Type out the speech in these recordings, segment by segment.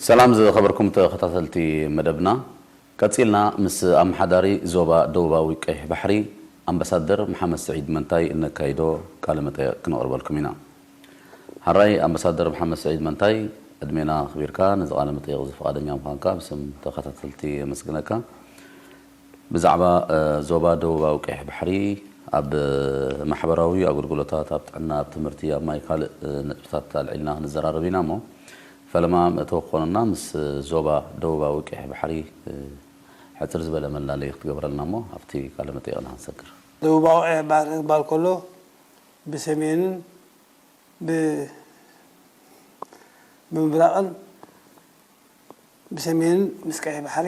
ሰላም ዝኸበርኩም ተኸታተልቲ መደብና፣ ቀጺልና ምስ ኣመሓዳሪ ዞባ ደቡባዊ ቀይሕ ባሕሪ ኣምበሳደር መሓመድ ስዒድ መንታይ እነካይዶ ቃለ መጠየቕ ክነቕርበልኩም ኢና። ሐራይ ኣምበሳደር መሓመድ ስዒድ መንታይ ዕድሜና ኣኽቢርካ ነዚ ቃለ መጠየቕ እዚ ፍቓደኛ ምዃንካ ብስም ተኸታተልቲ የመስግነካ። ብዛዕባ ዞባ ደቡባዊ ቀይሕ ባሕሪ ኣብ ማሕበራዊ ኣገልግሎታት፣ ኣብ ጥዕና፣ ኣብ ትምህርቲ፣ ኣብ ማይ ካልእ ነጥብታት ኣልዒልና ክንዘራረብ ኢና እሞ ፈለማ መእተዊ ክኾነና ምስ ዞባ ደቡባዊ ቀይሕ ባሕሪ ሕጽር ዝበለ መላለዪ ክትገብረልና እሞ ኣብቲ ቃለ መጠይቕና ክንሰግር። ደቡባዊ ቀይሕ ባሕሪ ክበሃል ከሎ ብሰሜንን ብምብራቕን ብሰሜንን ምስ ቀይሕ ባሕሪ፣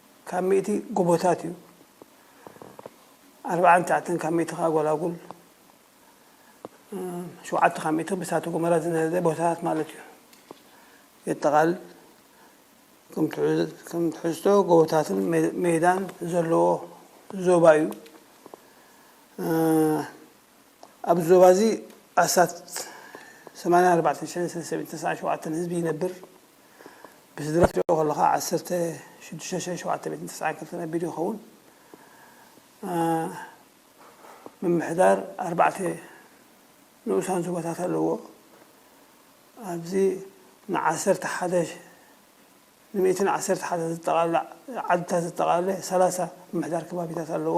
ካብ ሚእቲ ጎቦታት እዩ፣ ኣርብዓን ትሽዓተን ካብ ሚእቲ ከኣ ጎላጉል፣ ሸውዓተ ካብ ሚእቲ ብእሳተ ጎመራ ዝነደደ ቦታታት ማለት እዩ። የጠቓልል። ከም ትሕዝቶ ጎቦታትን ሜዳን ዘለዎ ዞባ እዩ። ኣብዚ ዞባ እዚ ኣስታት ሰማንያን ኣርባዕተን ሽሕን ሰሰብ ኢንተስዓን ሸውዓተን ህዝቢ ይነብር። ብስድራ ክትሪኦ ከለኻ ዓሰርተ ሽዱሽተ ሽሕን ሸውዓተ ሚእትን ተስዓን ክልተን ኣቢሉ ይኸውን። ምምሕዳር ኣርባዕተ ንኡሳን ዞባታት ኣለዎ። ኣብዚ ንዓሰርተ ሓደ ንሚእትን ዓሰርተ ሓደ ዘጠቓልል ዓድታት ዘጠቓለለ ሰላሳ ምምሕዳር ከባቢታት ኣለዎ።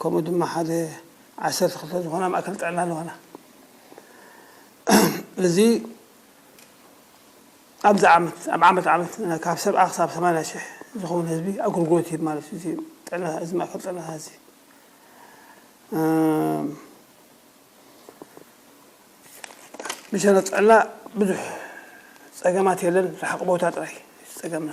ከምኡ ድማ ሓደ ዓሰርተ ክልተ ዝኾና ማእከል ጥዕና ኣለዋና። እዚ ኣብዚ ዓመት ኣብ ዓመት ዓመት ካብ ሰብዓ ክሳብ ሰማንያ ሽሕ ዝኸውን ህዝቢ ኣገልግሎት ይህብ ማለት እዩ እዚ ጥዕና እዚ ማእከል ጥዕና እዚ ብሸነኽ ጥዕና ብዙሕ ጸገማት የለን፣ ርሓቕ ቦታ ጥራይ እዩ ጸገምና።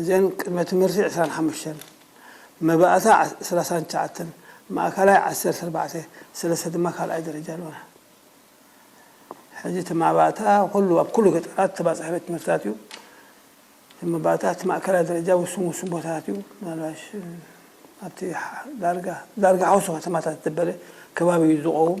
እዘን ቅድመ ትምህርቲ ዕስራን ሓሙሽተን፣ መባእታ ሰላሳን ትሽዓተን፣ ማእከላይ ዓሰርተ ኣርባዕተ፣ ሰለስተ ድማ ካልኣይ ደረጃ ኣለዋና። ሕዚ እቲ መባእታ ኩሉ ኣብ ኩሉ ገጠራት ተባጻሒ ቤት ትምህርትታት እዩ። እቲ መባእታ እቲ ማእከላይ ደረጃ ውሱን ውሱን ቦታታት እዩ። ምናልባሽ ኣብቲ ዳርጋ ዳርጋ ሓውሲ ከተማታት ዝበለ ከባቢ እዩ ዝቖውም።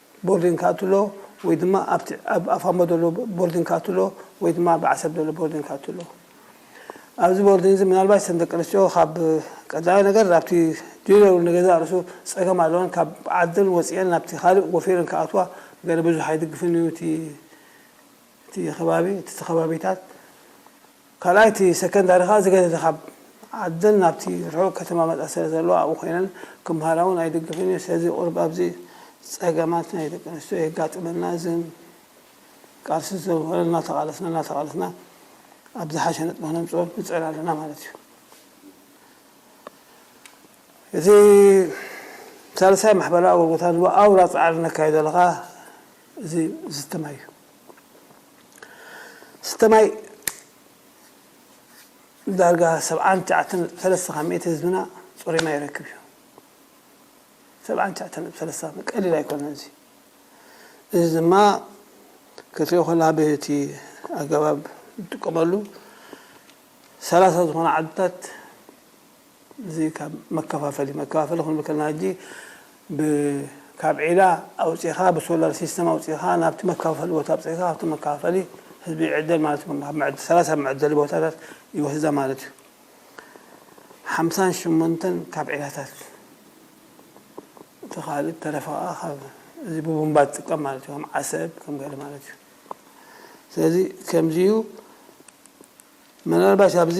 ቦርዲን ክኣቱሎ ወይ ድማ ኣብቲ ኣብ ኣፋሞ ዘሎ ቦርዲን ክኣቱሎ ወይ ድማ ኣብ ዓሰብ ዘሎ ቦርዲን ክኣቱሎ ኣብዚ ቦርዲን እዚ ምናልባሽ እተን ደቂ ኣንስትዮ ካብ ቀዳማይ ነገር ኣብቲ ዲለሩ ንገዛእ ርእሱ ጸገም ኣለወን ካብ ዓደን ወጺኤን ናብቲ ካልእ ወፊረን ክኣትዋ ገለ ብዙሕ ኣይድግፍን እዩ እቲ እቲ ከባቢ እቲ ከባቢታት ካልኣይ እቲ ሰከንዳሪ ከኣ ዝገደደ ካብ ዓደን ናብቲ ርሑቕ ከተማ መጻ ስለ ዘሎ ኣብኡ ኮይነን ክመሃራ ውን ኣይድግፍን እየ ስለዚ ቁሩብ ኣብዚ ጸገማት ናይ ደቂ ኣንስትዮ የጋጥመና እዚ ግን ቃልሲ ስለ ዝኾነ እናተቓለስና እናተቓለስና ኣብ ዝሓሸ ነጥቢ ክነምጽኦ ንጽዕር ኣለና ማለት እዩ እዚ ሳልሳይ ማሕበራዊ ኣገልግሎታት ድማ ኣውራ ጻዕሪ ነካይዶ ኣለኻ እዚ ዝስተ ማይ እዩ ዝስተ ማይ ዳርጋ ሰብዓን ትሽዓተን ነጥቢ ሰለስተ ካብ ሚእቲ ህዝብና ፅሩይ ማይ ይረክብ እዩ። ሰብዓን ትሽዓተን ነጥቢ ሰለስተ ቀሊል ኣይኮነን እዚ እዚ ድማ ክትሪኦ ከለካ ብቲ ኣገባብ ዝጥቀመሉ ሰላሳ ዝኾና ዓድታት እዚ ካብ መከፋፈሊ መከፋፈሊ ክንብል ከለና ሕጂ ብ ካብ ዒላ ኣውጺኻ ብሶላር ሲስተም ኣውጺኻ ናብቲ መከፋፈሊ ቦታ ኣብጺሕካ ካብቲ መከፋፈሊ ህዝቢ ይዕደል ማለት እዩ ኣብ መዐ ሰላሳ ኣብ መዐደሊ ቦታታት ይወስዳ ማለት እዩ ሓምሳን ሸሞንተን ካብ ዒላታት እቲ ካልእ ዝተረፈ ከኣ ካብ እዚ ብቡምባ ዝጥቀም ማለት እዩ ከም ዓሰብ ከም ገለ ማለት እዩ ስለዚ ከምዚ እዩ ምናልባሽ ኣብዚ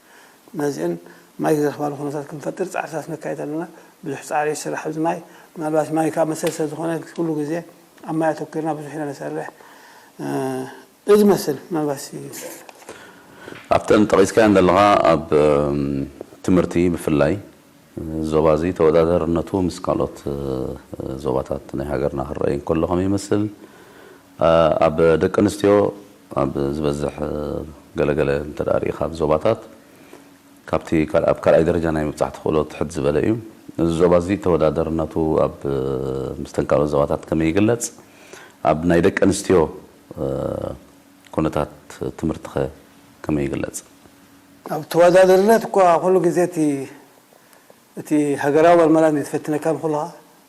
መዚእን ማይ ዝረኽባሉ ኩነታት ክንፈጥር ፃዕርታት ነካይድ ኣለና። ብዙሕ ፃዕሪ ይስራሕ ኣብዚ ማይ። ምናልባት ማይ ከዓ መሰል ስለዝኾነ ኩሉ ግዜ ኣብ ማይ ኣተኲርና ብዙሕ ኢና ንሰርሕ። እዩ ዝመስል ምናልባት እስኪ። ኣብተን ጠቒስካየን ዘለኻ ኣብ ትምህርቲ ብፍላይ እዚ ዞባ እዚ ተወዳዳርነቱ ምስ ካልኦት ዞባታት ናይ ሃገርና ክረኣይ እንከሎ ከመይ ይመስል? ኣብ ደቂ ኣንስትዮ ኣብ ዝበዝሕ ገለ ገለ እንተ ርኢኻ ኣብ ዞባታት ካብቲ ኣብ ካልኣይ ደረጃ ናይ ምብጻሕ ተኽእሎ ትሕት ዝበለ እዩ። እዚ ዞባ እዚ ተወዳደርነቱ ኣብ ምስተን ካልኦት ዞባታት ከመይ ይግለጽ? ኣብ ናይ ደቂ ኣንስትዮ ኩነታት ትምህርቲኸ ከመይ ይግለጽ? ኣብ ተወዳደርነት እኳ ኩሉ ግዜ እቲ እቲ ሃገራዊ መርመራ ንዝፈትነካ ንኹልኻ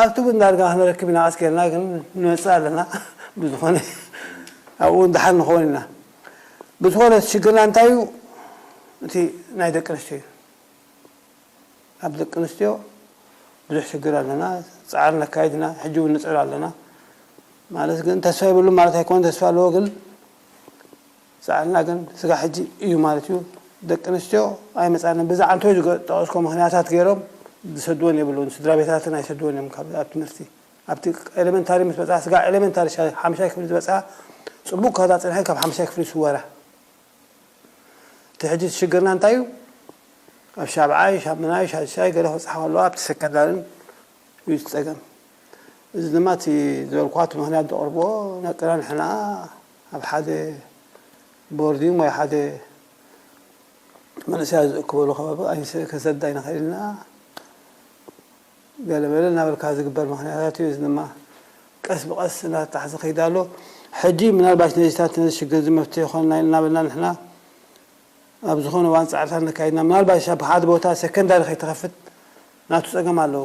ኣብቲ ግን ዳርጋ ክንረክብ ኢና ቀስ ጌርና ግን ንመጽእ ኣለና ብዝኮነ ኣብኡ ውን ድሓን ንከውን ኢና ብዝኮነ እቲ ሽግርና እንታይ እዩ እቲ ናይ ደቂ ኣንስትዮ እዩ ኣብ ደቂ ኣንስትዮ ብዙሕ ሽግር ኣለና ጻዕሪ ነካይድ ኢና ሕጂ ውን ንጽዕር ኣለና ማለት ግን ተስፋ የብሉን ማለት ኣይኮነን ተስፋ ኣለዎ ግን ሰኣልና ግን ስጋብ ሕጂ እዩ ማለት እዩ ደቂ ኣንስትዮ ኣይመጻናን ብዚ ዓንተቦይ ዝጠቀስክዎ ምክንያታት ገይሮም ዝሰድወን የብሉን ስድራቤታተን ኣይሰድወን እዮም ካብ ኣብ ትምህርቲ ኣብቲ ኤለመንታሪ ምስ በጽሓ ስጋብ ኤለመንታሪ ሓምሻይ ክፍሊ ዝበጽሓ ጽቡቅ ከዳ ጽንሐን ካብ ሓምሻይ ክፍሊ ይስወራ እቲ ሕጂ እቲ ሽግርና እንታይ እዩ ኣብ ሻብዓይ ሻምናይ ሻድሻይ ገለ ክብጽሓ ከለዋ ኣብቲ ሰከንዳርን እዩ እቲ ጸገም እዚ ድማ እቲ ዝበልክዋ እቲ ምክንያት ዘቅርብዎ ነቅና ንሕና ኣብ ሓደ ቦርዲንግ ወይ ሓደ መንእሰያት ዝእክበሉ ከባቢ ኣይንስ ክንሰድድ ኣይንኽእልን ኢና ገለ መለ እናበልካ ዝግበር ምኽንያታት እዩ። እዚ ድማ ቀስ ብቐስ እናተጣሕሰ ከይድ ኣሎ። ሕጂ ምናልባሽ ነዚታት ነዚ ሽግር እዚ መፍትሒ ይኾነና እዩ እናበልና ንሕና ኣብ ዝኾነ እዋን ጻዕርታት ነካይድና ምናልባሽ ኣብ ሓደ ቦታ ሰከንዳሪ ከይትኸፍት ናቱ ጸገም ኣለዎ።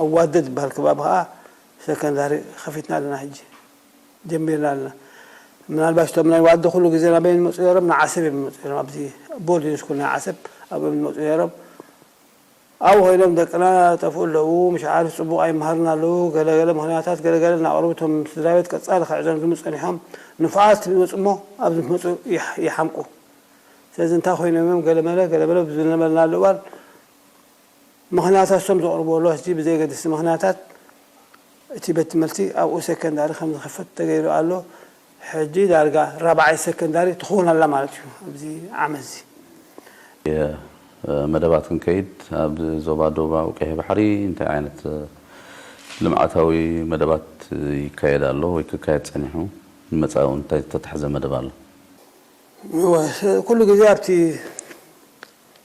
ኣዋደድ ዝባሃል ከባቢ ከኣ ሰከንዳሪ ከፊትና ኣለና ሕጂ ጀሚርና ኣለና ምናልባሽ እቶም ናይ ዋዲ ኩሉ ግዜ ናበይ እዮም ዝመጹ ነይሮም ንዓሰብ እዮም ዝመጹ ነይሮም ኣብዚ ቦርድ ን ስኩል ናይ ዓሰብ ኣብኡ እዮም ዝመጹ ነይሮም ኣብኡ ኮይኖም ደቅና ይጠፍኡ ኣለዉ ምሽ ዓርስ ጽቡቕ ኣይመሃሩን ኣለዉ ገለ ገለ ምኽንያታት ገለ ገለ እናቕረቡ እቶም ስድራቤት ቀጻሊ ክዕዘኑ ዝምጹ ጸኒሖም ንፉዓት ትብል ይመጹ እሞ ኣብዚ ምስ መጹ ይሓምቁ ስለዚ እንታይ ኮይኖም እዮም ገለ መለ ገለ መለ ዝነበርናሉ እዋን ምኽንያታቶም ዘቕርቡ ሎህቲ ብዘየገድስቲ ምኽንያታት እቲ ቤት ትምህርቲ ኣብኡ ሴከንዳሪ ከም ዝኽፈት ተገይሩ ኣሎ። ሕጂ ዳርጋ ራብዓይ ሴከንዳሪ ትኽውን ኣላ ማለት እዩ ኣብዚ ዓመትዚ። መደባት ክንከይድ ኣብ ዞባ ደቡባዊ ቀይሕ ባሕሪ እንታይ ዓይነት ልምዓታዊ መደባት ይካየድ ኣሎ ወይ ክካየድ ጸኒሑ? ንመጻኢ እውን እንታይ ዝተታሕዘ መደብ ኣሎ? እወ ኩሉ ግዜ ኣብቲ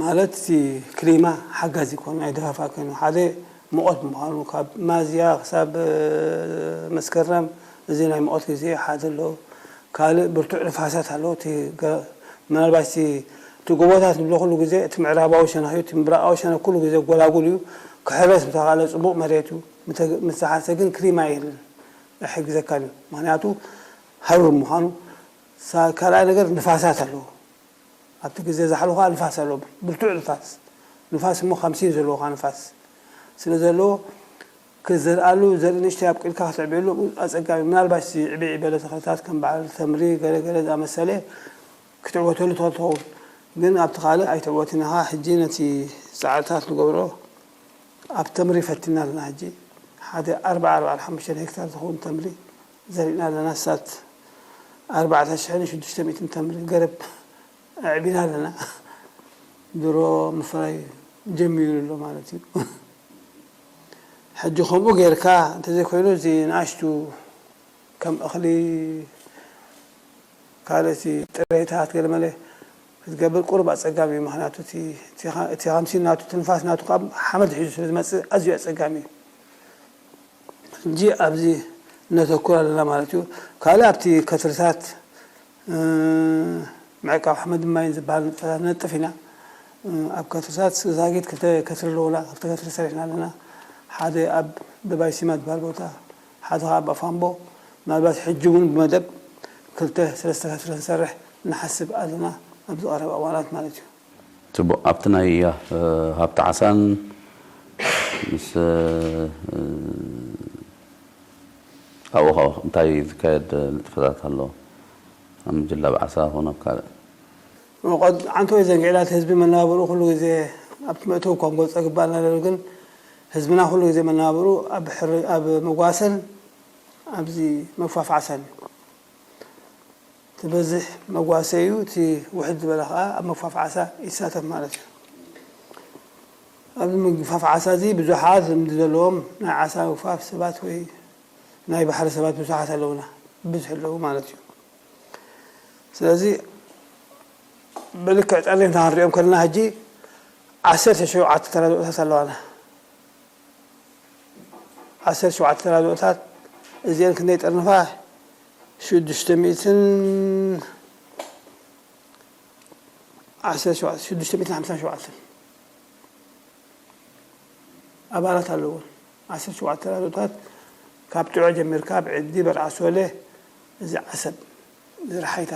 ማለት እቲ ክሊማ ሓጋዚ ኮይኑ ኣይደፋፋእ ኮይኑ ሓደ ሙቐት ብምዃኑ ካብ ማዝያ ክሳብ መስከረም እዚ ናይ ሙቐት ግዜ ሓደ ኣሎ ካልእ ብርቱዕ ንፋሳት ኣሎ እቲ ምናልባሽ እቲ እቲ ጎቦታት ንብሎ ኩሉ ግዜ እቲ ምዕራባዊ ሸነኽ እዩ እቲ ምብራቓዊ ሸነኽ ኩሉ ግዜ ጎላጉል እዩ ክሕረስ ምተኻእለ ጽቡቕ መሬት እዩ ምተሓርሰ ግን ክሊማ የለን ኣይሕግዘካን እዩ ምኽንያቱ ሃሩር ምዃኑ ካልኣይ ነገር ንፋሳት ኣለዎ ኣብቲ ግዘ ዛሕሉ ከኣ ንፋስ ኣለዎ ብርቱዕ ንፋስ ንፋስ እሞ ከም ሲን ዘለዎ ከኣ ንፋስ ስለ ዘለዎ ክትዘርኣሉ ዘርኢ ንእሽተይ ኣብቂልካ ክትዕብየሉ ኣጸጋሚ'ዩ ምናልባሽ ዝዕብዒ በለ ተኽልታት ከም በዓል ተምሪ ገለ ገለ ዝኣመሰለ ክትዕወተሉ ትኽእል ትኸውን ግን ኣብቲ ካልእ ኣይትዕወትን ኢኻ ሕጂ ነቲ ጻዕርታት ንገብሮ ኣብ ተምሪ ፈቲንና ኣለና ሕጂ ሓደ ኣርብዓ ኣርብዓን ሓሙሽተን ሄክታር ዝኸውን ተምሪ ዘሪእና ኣለና ኣስታት ኣርባዕተ ሽሕን ሽዱሽተ ሚእትን ተምሪ ገረብ ኣዕቢና ኣለና ድሮ ምፍራይ ጀሚሩ ኣሎ ማለት እዩ ሕጂ ከምኡ ጌርካ እንተዘይኮይኑ እዚ ንኣሽቱ ከም እኽሊ ካልእቲ ጥሬታት ገለመለ ክትገብር ቁሩብ ኣጸጋሚ እዩ ምክንያቱ እቲ ከምሲ ናቱ ትንፋስ ናቱ ካብ ሓመድ ሒዙ ስለ ዝመጽእ ኣዝዩ ኣጸጋሚ እዩ ሕጂ ኣብዚ ነተኩር ኣለና ማለት እዩ። ካልእ ኣብቲ ከትርታት ምዕቃብ ሓመድን ማይን ዝበሃል ንጥፈታት ነጥፍ ኢና። ኣብ ከትርታት ዛጊት ክልተ ከትሪ ኣለዉና፣ ክልተ ከትሪ ሰሪሕና ኣለና። ሓደ ኣብ ደባይ ሲማ ዝበሃል ቦታ፣ ሓደ ከኣ ኣብ ኣፋምቦ። ምናልባት ሕጂ እውን ብመደብ ክልተ ሰለስተ ከትሪ ክንሰርሕ ንሓስብ ኣለና፣ ኣብዚ ቀረባ እዋናት ማለት እዩ። ጽቡቕ ኣብቲ ናይ ሃብቲ ዓሳን ምስ ኣብኡ ከ እንታይ ዝካየድ ንጥፈታት ኣሎ ኣብ ምጅላብ ዓሳ ኮነ ኣብ ካልእ? ሞቐት ሓንቲ ወይ ዘንጊዕላ እቲ ህዝቢ መነባብርኡ ኩሉ ግዜ ኣብቲ መእተዊ እኳ ክንገልጾ ይግብኣና ነይሩ ግን ህዝብና ኩሉ ግዜ መነባብርኡ ኣብ ኣብ መጓሰን ኣብዚ መግፋፍ ዓሳን እዩ። ትበዝሕ መጓሰዩ እቲ ውሕድ ዝበለ ከኣ ኣብ ምግፋፍ ዓሳ ይሳተፍ ማለት እዩ። ኣብዚ ምግፋፍ ዓሳ እዚ ብዙሓት ልምዲ ዘለዎም ናይ ዓሳ ምግፋፍ ሰባት ወይ ናይ ባሕሪ ሰባት ብዙሓት ኣለዉና ብብዝሒ ኣለዉ ማለት እዩ። ስለዚ ብልክዕ ጠሪንካ ክንሪኦም ከለና ሕጂ ዓሰርተ ሸውዓተ ተራድኦታት ኣለዋና። ዓሰርተ ሸውዓተ ተራድኦታት እዚኤን ክንደይ ይጠርንፋ? ሽዱሽተ ሚእትን ዓሰርተ ሸውዓተ ሽዱሽተ ሚእትን ሓምሳን ሸውዓተን ኣባላት ኣለዎን። ዓሰርተ ሸውዓተ ተራድኦታት ካብ ጭዖ ጀሚርካ ብዕዲ በርዓሶለ እዚ ዓሰብ እዚ ረሓይታ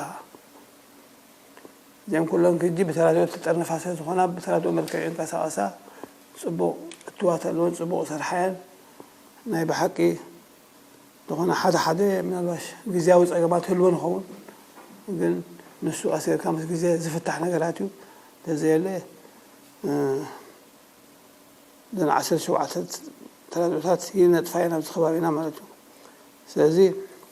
እዚኣን ኩለን ክጂ ብተራድኦ ዝተጠርነፋ ስለ ዝኾና ብተራድኦ መልክዕ ይንቀሳቐሳ ጽቡቕ እትዋት ኣለወን ጽቡቕ ይሰርሓ እየን ናይ ብሓቂ ዝኾነ ሓደ ሓደ ምናልባሽ ግዝያዊ ጸገማት ህልወን ይኸውን ግን ንሱ ቀስ ጌርካ ምስ ግዜ ዝፍታሕ ነገራት እዩ ተዘየለ እዘን ዓሰርተ ሸውዓተ ተራድኦታት ይነጥፋ እየን ኣብዚ ከባቢና ማለት እዩ ስለዚ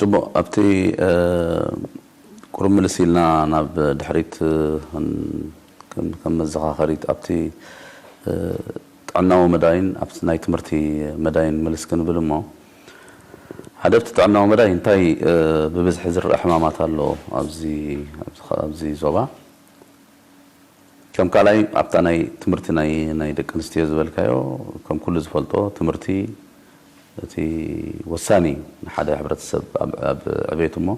ጽቡቕ ኣብቲ ቁሩብ ምልስ ኢልና ናብ ድሕሪት ከም መዘኻኸሪት ኣብቲ ጥዕናዊ መዳይን ኣብቲ ናይ ትምህርቲ መዳይን ምልስ ክንብል እሞ ሓደ ኣብቲ ጥዕናዊ መዳይ እንታይ ብብዝሒ ዝረኣ ሕማማት ኣሎ ኣብዚ ኣብዚ ዞባ? ከም ካልኣይ ኣብታ ናይ ትምህርቲ ናይ ናይ ደቂ ኣንስትዮ ዝበልካዮ ከም ኩሉ ዝፈልጦ ትምህርቲ እቲ ወሳኒ እዩ ንሓደ ሕብረተሰብ ኣብ ዕቤቱ እሞ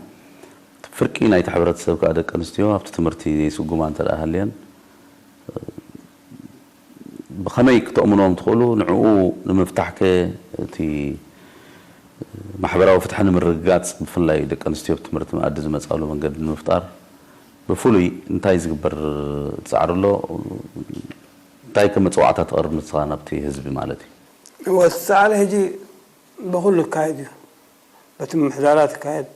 እቲ ፍርቂ ናይቲ ሕብረተሰብ ከኣ ደቂ ኣንስትዮ ኣብቲ ትምህርቲ ዘይስጉማ እንተ ሃልየን ብኸመይ ክተእምንዎም ትኽእሉ ንዕኡ ንምፍታሕ ከ እቲ ማሕበራዊ ፍትሒ ንምርግጋጽ ብፍላይ ደቂ ኣንስትዮ ትምህርቲ መኣዲ ዝመጻሉ መንገዲ ንምፍጣር ብፍሉይ እንታይ ዝግበር ጻዕሪ ኣሎ? እንታይ ከም መጸዋዕታ ትቐርብ ንስኻ ናብቲ ህዝቢ ማለት እዩ? እወ እቲ ጻዕሪ ሕጂ ብኹሉ ይካየድ እዩ። በቲ ምምሕዳራት ይካየድ፣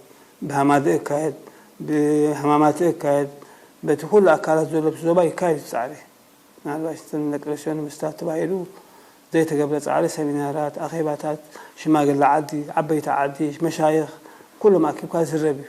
ብሃማደኤ ይካየድ፣ ብሃማማተኤ ይካየድ፣ በቲ ኩሉ ኣካላት ዘሎ ኣብቲ ዞባ ይካየድ እቲ ጻዕሪ። ምናልባሽ እተን ደቂ ኣንስትዮ ንምስታፍ ተባሂሉ ዘይተገብረ ጻዕሪ ሰሚናራት፣ ኣኼባታት፣ ሽማግለ ዓዲ፣ ዓበይቲ ዓዲ፣ መሻይኽ ኩሎም ኣኪብካ ዝዝረብ እዩ።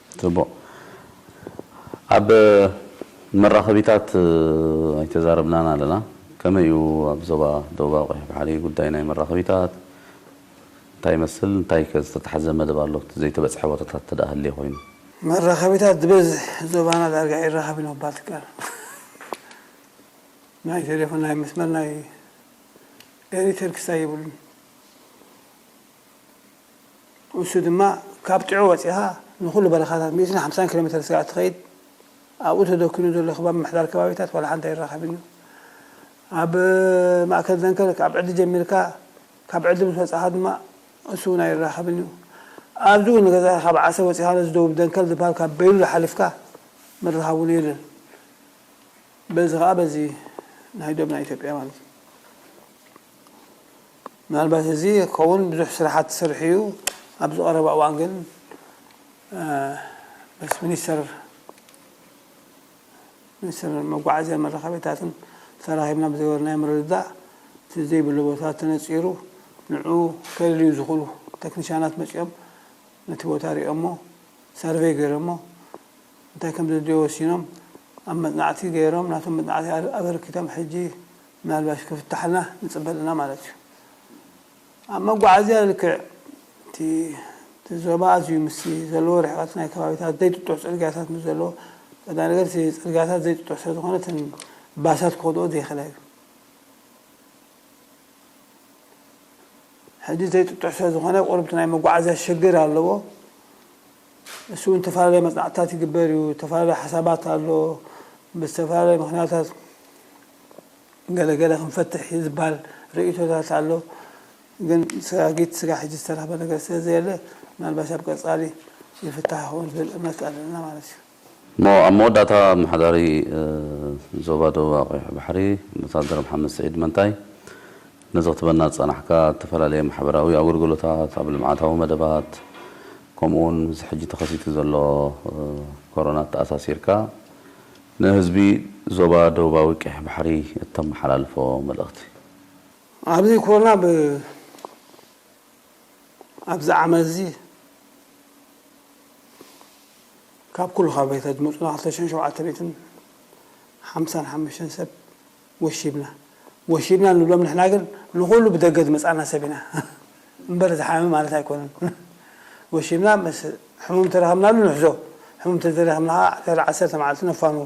ጽቡቕ ኣብ መራኸቢታት ኣይተዛረብናን ኣለና ከመይ እዩ ኣብ ዞባ ደቡባዊ ቀይሕ ባሕሪ ጉዳይ ናይ መራኸቢታት እንታይ ይመስል እንታይከ ዝተታሕዘ መደብ ኣሎ እቲ ዘይተበጽሐ ቦታታት እንተ ሃልዩ ኮይኑ? መራኸቢታት ዝበዝሕ ዞባና ዳርጋ ኣይራኸብን ምባል ትካኣል ናይ ቴሌፎን ናይ መስመር ናይ ኤሪተል ክሳይ የብሉን። ንሱ ድማ ካብ ጥዑ ወጺኻ ንኹሉ በረኻታት ሚእትን ሓምሳን ኪሎ ሜተር ስጋዕ እትኸይድ ኣብኡ ተደኩኑ ዘሎ ከባቢ ምሕዳር ከባቢታት ዋላ ሓንቲ ኣይራኸብን እዩ። ኣብ ማእከል ዘንከልክ ኣብ ዕዲ ጀሚርካ ካብ ዕዲ ምስ ወጻኻ ድማ እሱ እውን ኣይራኸብን እዩ። ኣብዚ እውን ንገዛኻ ካብ ዓሰብ ወጺኻ ነዚ ደቡብ ደንከል ዝብሃል ካብ በይሉል ሓሊፍካ ምርኻብ እውን የለን። በዚ ከኣ በዚ ናይ ዶብና ኢትዮጵያ ማለት እዩ። ምናልባት እዚ ክኸውን ብዙሕ ስራሓት ዝሰርሕ እዩ ኣብዚ ቀረባ እዋን ግን ምስ ሚኒስተር ሚኒስትር መጓዓዝያ መራኸቢታትን ተራኺብና ብዝገበርናዮ ምርድዳእ እቲ ዘይብሉ ቦታ ተነፂሩ ንዑ ከልልዩ ዝኽእሉ ተክኒሻናት መፂኦም ነቲ ቦታ ሪኦሞ ሰርቬይ ገይሮሞ እንታይ ከም ዘድልዮ ወሲኖም ኣብ መፅናዕቲ ገይሮም ናቶም መፅናዕቲ ኣበርኪቶም ሕጂ ምናልባሽ ክፍታሕልና ንጽበ ኣለና ማለት እዩ። ኣብ መጓዓዝያ ልክዕ እቲ እቲ ዞባ ኣዝዩ ምስቲ ዘለዎ ርሕቐት ናይ ከባቢታት ዘይጥጡሕ ጽርግያታት ምስ ዘለዎ፣ ቀዳማይ ነገር እቲ ጽርግያታት ዘይጥጡሕ ስለ ዝኾነ እተን ባሳት ክኸድኦ ዘይኽእላ እዩ። ሕጂ ዘይጥጡሕ ስለ ዝኾነ ቁሩብ እቲ ናይ መጓዓዝያ ሽግር ኣለዎ። ንሱ እውን እተፈላለየ መጽናዕትታት ይግበር እዩ፣ እተፈላለየ ሓሳባት ኣሎ፣ ብዝተፈላለየ ምኽንያታት ገለ ገለ ክንፈትሕ እዩ ዝብሃል ርእይቶታት ኣሎ፣ ግን ሰጋጊት ስጋዕ ሕጂ ዝተረኽበ ነገር ስለ ዘየለ ምናልባሽ ኣብ ቀጻሊ ይፍታሕ ይኸውን ዝብል እምነት ኣለና ማለት እዩ። እሞ ኣብ መወዳእታ ኣመሓዳሪ ዞባ ደቡባ ቀይሕ ባሕሪ ኣምባሳደር መሓመድ ስዒድ መንታይ ነዚ ክትበና ዝጸናሕካ እተፈላለየ ማሕበራዊ ኣገልግሎታት ኣብ ልምዓታዊ መደባት ከምኡውን እዚ ሕጂ ተኸሲቱ ዘሎ ኮሮና ኣተኣሳሲርካ ንህዝቢ ዞባ ደቡባዊ ቀይሕ ባሕሪ እተመሓላልፎ መልእኽቲ ኣብዚ ኮሮና ብ። ኣብዚ ዓመትዚ ካብ ኩሉ ከባቢታት ዝመጹና ክልተ ሽሕን ሸውዓተ ሚእትን ሓምሳን ሓሙሽተን ሰብ ወሺብና። ወሺብና ንብሎም ንሕና ግን ንኹሉ ብደገ ዝመጻእና ሰብ ኢና እምበር ዝሓመመ ማለት ኣይኮነን። ወሺብና ምስ ሕሙም ተረኸብናሉ ንሕዞ፣ ሕሙም ተዘይረኸብና ከኣ ድሕሪ ዓሰርተ መዓልቲ ነፋንዎ።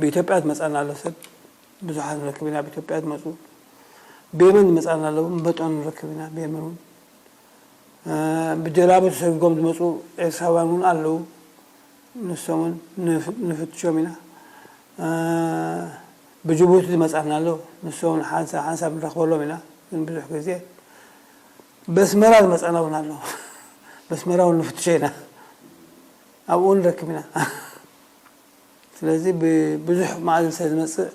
ብኢትዮጵያ ዝመጻና ኣሎ ሰብ ብዙሓት ንረክብ ኢና ብኢትዮጵያ ዝመጹ ብየመን ዝመጻና ኣለዉ በጦን ንረክብ ኢና ብየመን እውን ብጀላቡ ተሰጊጎም ዝመፁ ኤርትራውያን እውን ኣለዉ ንሶም እውን ንፍትሾም ኢና ብጅቡቲ ዝመፃና ኣሎ ንሶም እውን ሓንሳብ ሓንሳብ ንረኽበሎም ኢና ግን ብዙሕ ግዜ በስመራ ዝመፃና እውን ኣሎ በስመራ እውን ንፍትሾ ኢና ኣብኡ ንረክብ ኢና ስለዚ ብብዙሕ መኣዝን ስለ ዝመጽእ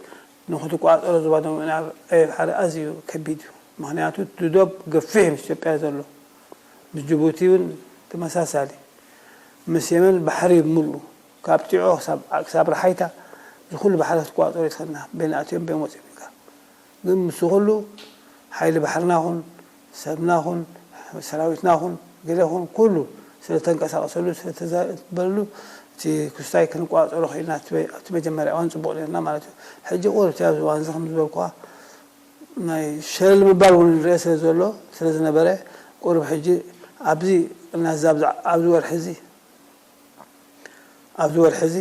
ንኽትቋጸሮ ዞባ ደቡብ ምዕራብ ዕቤ ባሕሪ ኣዝዩ ከቢድ እዩ። ምኽንያቱ እቲ ዶብ ገፊሕ እዩ ምስ ኢትዮጵያ ዘሎ። ምስ ጅቡቲ እውን ተመሳሳሊ። ምስ የመን ባሕሪ እዩ ብምልኡ። ካብ ጢዖ ክሳብ ራሓይታ እዚ ኩሉ ባሕሪ ክትቋጸሮ ይትኽእልና። በየን ኣትዮም በየን ወጺኦም ኢልካ። ግን ምስ ኹሉ ሓይሊ ባሕርና ኹን ሰብና ኹን ሰራዊትና ኹን ገለ ኹን ኩሉ ስለ ተንቀሳቅሰሉ ስለ ተዘበለሉ እቲ ክስታይ ክንቋጸሮ ኪኢልና ኣብቲ መጀመርያ እዋን ጽቡቅ ኔርና ማለት እዩ ሕጂ ቁሩብ እቲ ኣብዚ እዋንዚ ከም ዝበልኩካ ናይ ሸለል ምባል ውን ንርኤ ስለ ዘሎ ስለ ዝነበረ ቁሩብ ሕጂ ኣብዚ ናዛ ኣብዚ ወርሒ እዚ ኣብዚ ወርሒ እዚ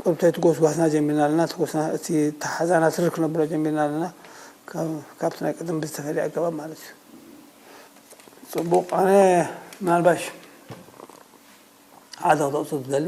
ቁርብተይቲ ጎስጓስና ጀሚርና ኣለና፣ እቲ ጎስና እቲ ተሓዛና ትርር ክነብሎ ጀሚርና ኣለና፣ ካብቲ ናይ ቀደም ብዝተፈልየ ኣገባብ ማለት እዩ። ጽቡቕ ኣነ ምናልባሽ ሓደ ክጠቕሶ ዝደሊ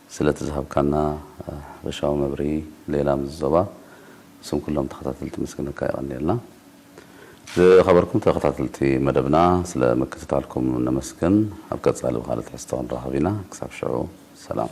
ስለቲ ዝሃብካና ሓፈሻዊ መብርሂ ሌላ ምስ ዞባ ስም ኩሎም ተኸታተልቲ ኣመስግነካ የቐንየልና። ዝኸበርኩም ተኸታተልቲ መደብና ስለ ምክትታልኩም ነመስግን። ኣብ ቀጻሊ ብኻልእ ትሕዝቶ ክንራኸብ ኢና ክሳብ ሽዑ ሰላም።